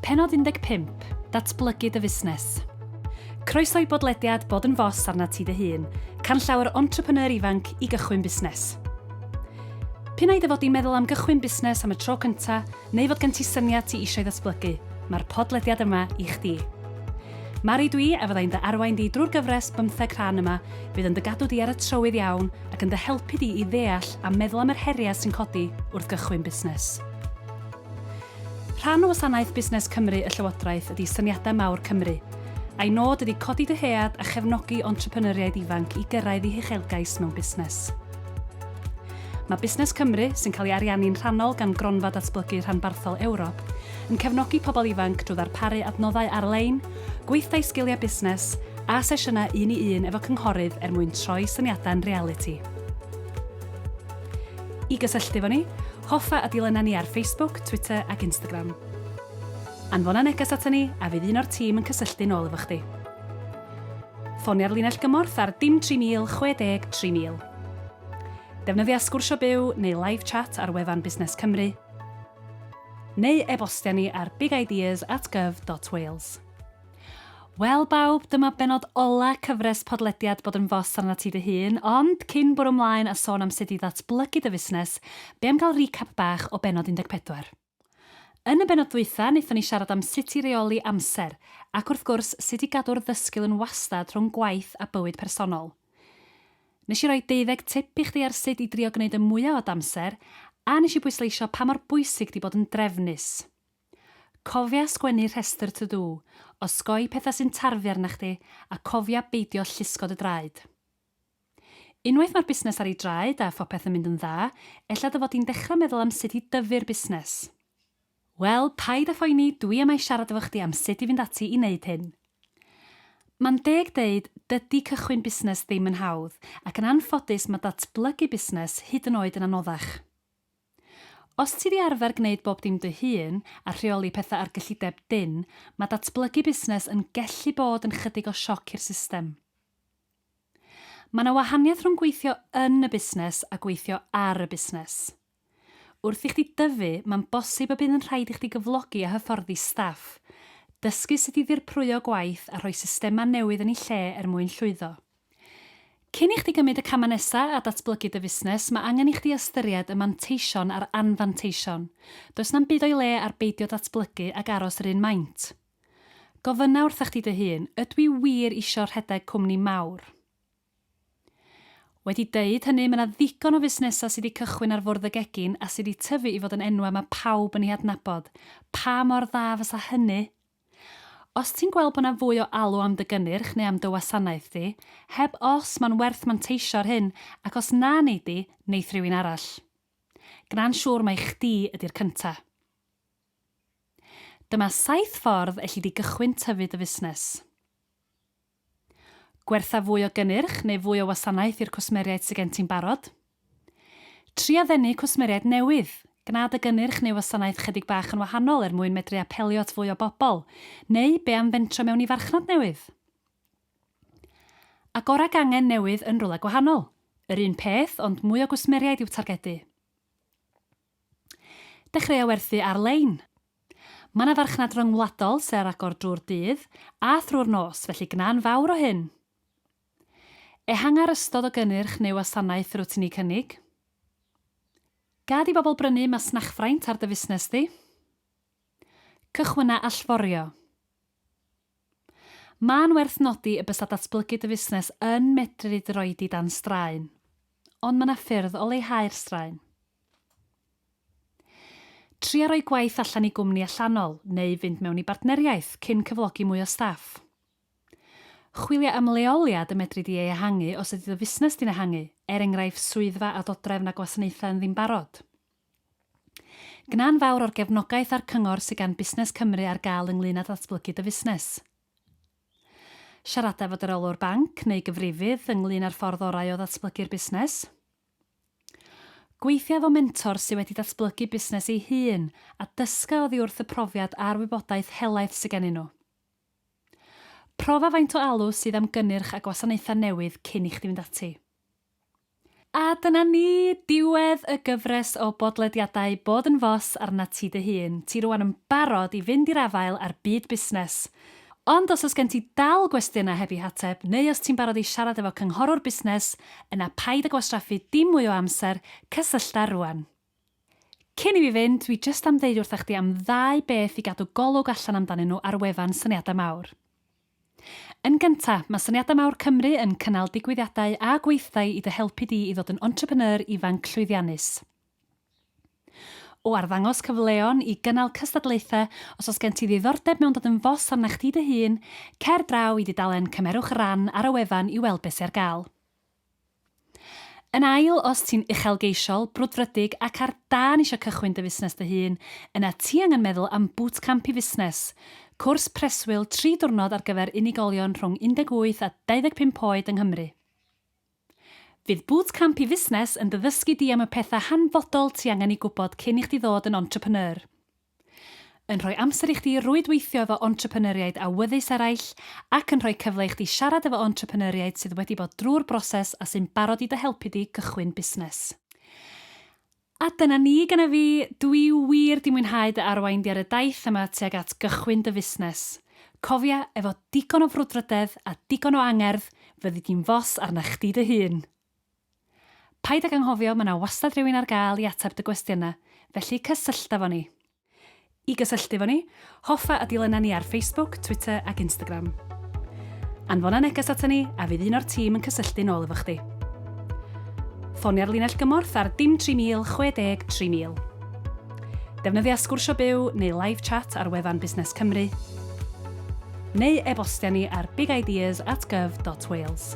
Pennod 15, Datblygu dy fusnes. Croeso i bodlediad Bod yn Fos arnat ti dy hun, canllaw entrepreneur ifanc i gychwyn busnes. P'un ai dy fod di'n meddwl am gychwyn busnes am y tro cynta, neu fod gen ti syniad ti eisiau ddatblygu, mae'r podlediad yma i chdi. Mari dwi a fyddai'n dy arwain di drwy'r gyfres bymtheg rhan yma fydd yn dy gadw di ar y trywydd iawn ac yn dy helpu di i ddeall a meddwl am yr heriau sy'n codi wrth gychwyn busnes. Rhan o wasanaeth Busnes Cymru y Llywodraeth ydy Syniadau Mawr Cymru, a'i nod ydy codi dyhead a chefnogi entrepreneuriaid ifanc i gyrraedd eu huchelgais mewn busnes. Mae Busnes Cymru, sy'n cael ei ariannu'n rhannol gan Gronfa Datblygu Rhanbarthol Ewrop, yn cefnogi pobl ifanc drwy ddarparu adnoddau ar-lein, gweithdai sgiliau busnes, a sesiynau un i un efo cynghorydd er mwyn troi syniadau'n realiti. I gysylltu efo ni, hoffa a dilyna ni ar Facebook, Twitter ac Instagram. Anfona neges aton ni a fydd un o'r tîm yn cysylltu'n ôl efo chdi. Ffonia'r linell gymorth ar dim 3000 60 3000. Defnyddia Sgwrsio Byw neu Live Chat ar wefan Busnes Cymru, neu e-bostia ni ar bigideas at gov.wales. Wel bawb, dyma benod ola cyfres podlediad Bod yn Fos arnat ti dy hun, ond cyn bwrw mlaen a sôn am sut i ddatblygu dy fusnes, be am gael recap bach o bennod 14? Yn y bennod ddwytha, wnaethon ni siarad am sut i reoli amser, ac wrth gwrs, sut i gadw'r ddysgl yn wastad rhwng gwaith a bywyd personol. Nes i roi deuddeg tip i chdi ar sut i drio gwneud y mwya o dy amser, a nes i bwysleisio pa mor bwysig di bod yn drefnus. Cofia sgwennu rhestr to do, osgoi pethau sy'n tarfu arnach chdi a cofia beidio llusgod y draed. Unwaith mae'r busnes ar ei draed a phopeth yn mynd yn dda, ella dy fod di'n dechrau meddwl am sut i dyfu'r busnes. Wel, paid â phoeni, dwi yma i siarad efo chdi am sut i fynd ati i wneud hyn. Mae'n deg deud, dydi cychwyn busnes ddim yn hawdd, ac yn anffodus mae datblygu busnes hyd yn oed yn anoddach. Os ti 'di arfer gwneud bob dim dy hun a rheoli petha ar gyllideb dyn, ma' datblygu busnes yn gellu bod yn chydig o sioc i'r system. Ma' 'na wahaniaeth rhwng gweithio yn y busnes a gweithio ar y busnes. Wrth i chdi dyfu, ma'n bosib y bydd yn rhaid i chdi gyflogi a hyfforddi staff, dysgu sut i ddirprwyo gwaith a rhoi systema newydd yn 'u lle er mwyn llwyddo. Cyn i chdi gymryd y camau nesa a datblygu dy fusnes, mae angen i chdi ystyried y manteision a'r anfanteision. Does na'm byd o'i le ar beidio datblygu ac aros yr un maint. Gofynna wrtha chdi dy hun, ydw i wir isio rhedeg cwmni mawr? Wedi deud hynny, mae 'na ddigon o fusnesau sy' 'di cychwyn ar fwrdd y gegin a sy' 'di tyfu i fod yn enwau mae pawb yn eu hadnabod. Pa mor dda fysa hynny Os ti'n gweld bod 'na fwy o alw am dy gynnyrch neu am dy wasanaeth di, heb os ma'n werth manteisio ar hyn ac os na nei di, neith rywun arall. Gna'n siŵr mai chdi ydi'r cynta. Dyma saith ffordd elli di gychwyn tyfu dy fusnes. Gwertha fwy o gynnyrch neu fwy o wasanaeth i'r cwsmeriaid sy' gen ti'n barod. Tria ddenu cwsmeriaid newydd. Gwna dy gynnyrch neu wasanaeth 'chydig bach yn wahanol er mwyn medru apelio at fwy o bobl. Neu be' am fentro mewn i farchnad newydd? Agor ag angen newydd yn rywle gwahanol. Yr un peth, ond mwy o gwsmeriaid i'w targedu. Dechreuo werthu ar-lein! Mae 'na farchnad ryngwladol sy' ar agor drwy'r dydd a thrwy'r nos, felly gwna'n fawr o hyn! Ehangu'r ystod o gynnyrch neu wasanaeth rwyt ti'n eu cynnig. Gad i bobl brynu masnachfraint ar dy fusnes di. Cychwynna allforio! Mae'n werth nodi y bysa datblygu dy fusnes yn medru dy roi di dan straen. Ond mae yna ffyrdd o leihau'r straen. Tria rhoi gwaith allan i gwmni allanol neu fynd mewn i bartneriaeth cyn cyflogi mwy o staff. Chwilia am leoliad y medri di ei ehangu os ydy dy fusnes di'n ehangu, er enghraifft swyddfa a dodrefn a gwasanaethau yn ddim barod. Gna'n fawr o'r gefnogaeth a'r cyngor sydd gan Busnes Cymru ar gael ynglŷn â datblygu dy fusnes. Siarada efo dy reolwr banc neu gyfrifydd ynglŷn â'r ffordd orau o ddatblygu'r busnes. Gweithia efo mentor sydd wedi datblygu busnes ei hun a dysga oddi wrth y profiad a'r wybodaeth helaeth sydd gennyn nhw. Profa faint o alw sydd am gynnyrch a gwasanaethau newydd cyn i chdi fynd ati. A dyna ni, diwedd y gyfres o bodlediadau Bod yn Fos arnat ti dy hun. Ti rŵan yn barod i fynd i'r afael â'r byd busnes. Ond os oes gen ti dal gwestiynau heb eu hateb, neu os ti'n barod i siarad efo cynghorwr busnes, yna paid â gwastraffu dim mwy o amser, cysyllta rŵan. Cyn i fi fynd, dwi jyst am ddeud wrtha chdi am ddau beth i gadw golwg allan amdanyn nhw ar wefan Syniadau Mawr. Yn gynta, mae Syniadau Mawr Cymru yn cynnal digwyddiadau a gweithdai i dy helpu di i ddod yn entrepreneur ifanc llwyddiannus. O arddangos cyfleon i gynnal cystadlaethau, os oes gen ti ddiddordeb mewn dod yn fos arna chdi dy hun, cer draw i dudalen Cymerwch Ran ar y wefan i weld beth sy ar gael. Yn ail, os ti'n uchelgeisiol, brwdfrydig ac ar dân eisiau cychwyn dy fusnes dy hun, yna ti angen meddwl am Bootcamp i Fusnes, cwrs preswyl tri diwrnod ar gyfer unigolion rhwng 18 a 25 oed yng Nghymru. Fydd Bootcamp i Fusnes yn dy ddysgu di am y pethau hanfodol ti angen eu gwybod cyn i chdi ddod yn entrepreneur. Yn rhoi amser i chdi rwydweithio efo entrepreneuriaid awyddus eraill ac yn rhoi cyfle i chdi siarad efo entrepreneuriaid sydd wedi bod drwy'r broses a sy'n barod i dy helpu di gychwyn busnes. A dyna ni gynna fi, dw i wir 'di mwynhau dy arwain di ar y daith yma tuag at gychwyn dy fusnes. Cofia, efo digon o frwdfrydedd a digon o angerdd, fyddi di'n fos arna chdi dy hun! Paid ag anghofio, mae 'na wastad rhywun ar gael i ateb dy gwestiynau, felly cysyllta efo ni! I gysylltu efo ni, hoffa a dilyna ni ar Facebook, Twitter ac Instagram. Anfona neges aton ni a fydd un o'r tîm yn cysylltu'n ôl efo chdi. Ffonia'r linell gymorth ar dim 3000 60 3000. Defnyddia Sgwrsio Byw neu Live Chat ar wefan Busnes Cymru, neu e-bostia ni ar bigideas at gov dot wales.